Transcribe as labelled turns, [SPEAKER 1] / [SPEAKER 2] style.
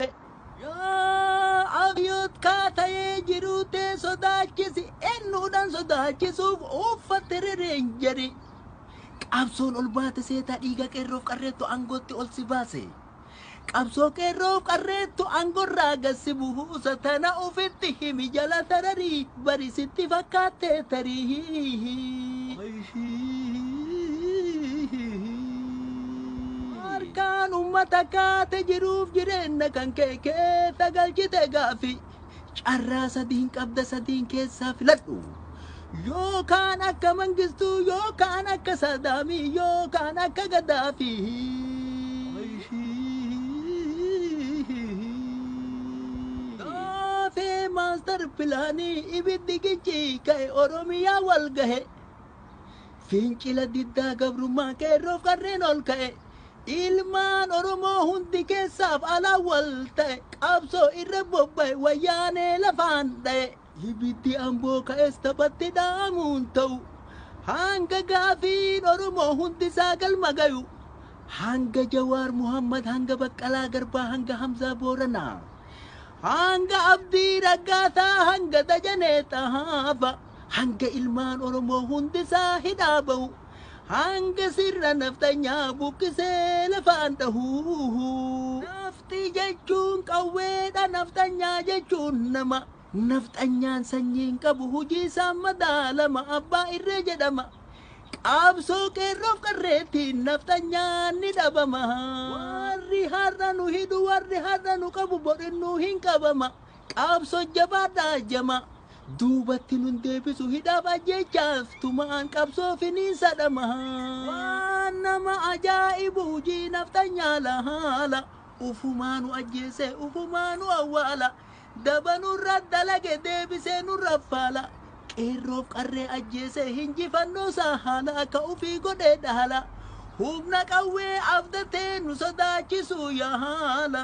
[SPEAKER 1] Ee. Yaa Abiyoot kaa tayee jiruu tee sodaachisi ennuudhan sodaachisuuf uuffatte re reenjarii. Qabsoon ol baate seetaa dhiiga qeerroof qarreettu aangootti ol si baase. Qabsoo qeerroof qarreettu aangorraa gad si buusa tana ufitti himi jala tararii. Bari sitti fakkaatte tarii. Harkaan ummata kaate jiruuf jireenna kan kee keessa galchite gaaffi. Carraa sadiin qabda sadiin keessaa filadhu. Yookaan akka mangistuu yookaan akka saadaamii yookaan akka gadaafii. Caffee Master Plan Ibiddi Gicci Ka'e Oromiyaa Wal Gahe Fincila Diddaa Gabrummaa Qeerroof Qarreen Ol Ka'e Ilmaan Oromoo Hundi Keessaaf Alaan Wal Ta'e Qabsoo Irra Bobba'e Wayyaanee Lafaan Dha'e. Ibiddi Amboo ka'es taphatti dhaamu hin ta'u. Hanga gaafiin Oromoo hundisaa galma gayu. Hanga Jawaar Muhammad, hanga Baqqalaa Garbaa, hanga Hamzaa Booranaa. Hanga Abdii Raggaasaa, hanga Dajanee Xahaafa. Hanga ilmaan Oromoo hundisaa hidhaa ba'u. Hanga sirna nafxanyaa buqqisee lafaan dhahu. Nafxii jechuun qawweedha nafxanyaa jechuun nama Nafxanyaan sanyii hin qabu hujii isaan madaalama Abbaa irree jedhama Qaabsoo qeerroof qarreettiin nafxanyaan ni dhabama Warri har'a nu hidhu warri har'a nu qabu bor innuu hin qabama Qabso jabaadhaa jamaa. Duubatti nun deebisu hidhaaf ajjeechaaf tumaan qabsoo finiinsa dhamaha. Waan nama ajaa'ibu hujii nafxanyaa lahaala. Ufumaa nu ajjeese ufumaa nu awwaala. Daba nurra dalage deebisee nurra faala. Qeerroof qarree ajjeese hinjifannoo saa haala akka ufii godhee dhahala. Humna qawwee abdatee nu sodaachisuu yaala.